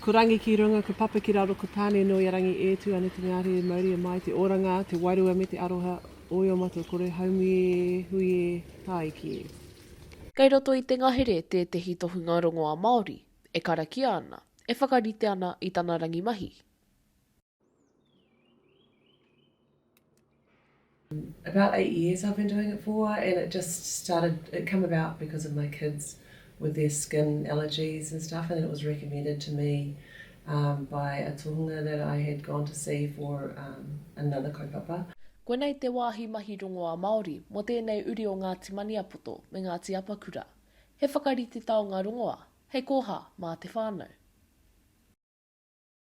Ko Rangi ki runga, ko Papa ki raro, ko Tane no i a Rangi e tu ana te mea rere mauri e mai te oranga, te wairua me te aroha oi o matou koroe haumi e, hui e, taiki e. Kei roto i te ngahere tētehi tohunga rongoa Māori e karakia ana, e whakarite ana i tana rangimahi. About eight years I've been doing it for and it just started it come about because of my kids with their skin allergies and stuff and then it was recommended to me um, by a tohunga that I had gone to see for um, another kaupapa. Koinei te wāhi mahi rongoā Māori mō tēnei uri o Ngāti Maniapoto me Ngāti Apakura. He whakarite taonga rongoā, hei koha mā te whānau.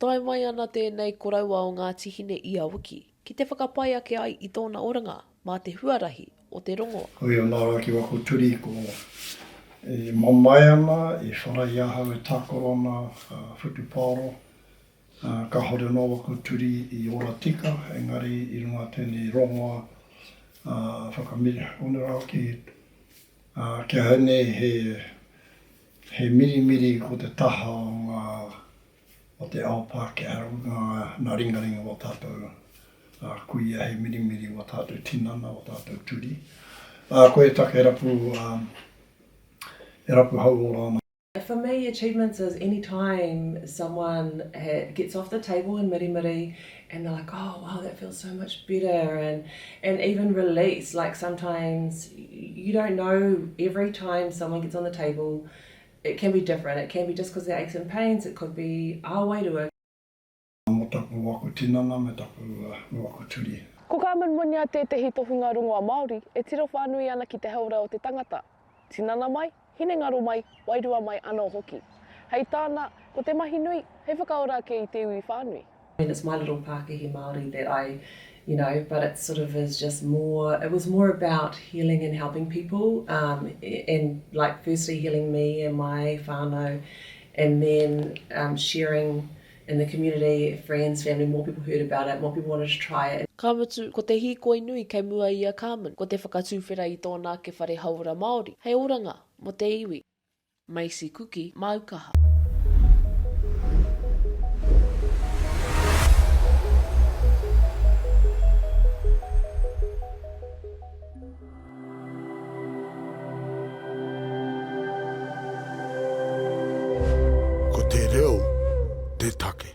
Tae mai ana tēnei koroua o Ngāti Hine i a wiki, ki te whakapai ake ai i tōna oranga mā te huarahi o te rongo. Hoi anā rā ki waho turi ko e mamae ana, e whara i ahau e takorona whutupaoro, ā, kāore anō waho turi i ora tika, engari i runga a tēnei rongoa, ā, whakamiria. Kōnei rā hoki, ā, kia hainei he. He mirimiri ko te taha o ngā, o te ao Pākehā runga nā ringaringa o tātou kuia, he mirimiri o tātou tinana, o tātou turi. Ā, koe taka e rapu, e rapu hauora ana. For me, achievements is any time someone gets off the table in mirimiri and they're like oh wow that feels so much better and and even release like sometimes you don't know every time someone gets on the table it can be different it can be just because they're aches and pains it could be our way to it Mo taku waku tinana me taku waku turi. Ko Carmen Muña tētehi tohunga rongoa Māori e tiro whānui ana ki te hauora o te tangata, tinana mai, hinengaro mai, wairua mai anō hoki. Hei tāna, ko te mahi nui, hei whakaora ake i te iwi whānui. And it's my little Pākehī Māori that I, you know, but it sort of is just more, it was more about healing and helping people um and like firstly healing me and my whānau and then um sharing in the community, friends, family, more people heard about it, more people wanted to try it. Ka mutu, ko te hīkoi nui kei mua i a Carmen, ko te whakatuwhera i tōna ake whare hauora Māori, hei oranga mō te iwi. Macy Kuki, Māukaha. Ko te reo te take.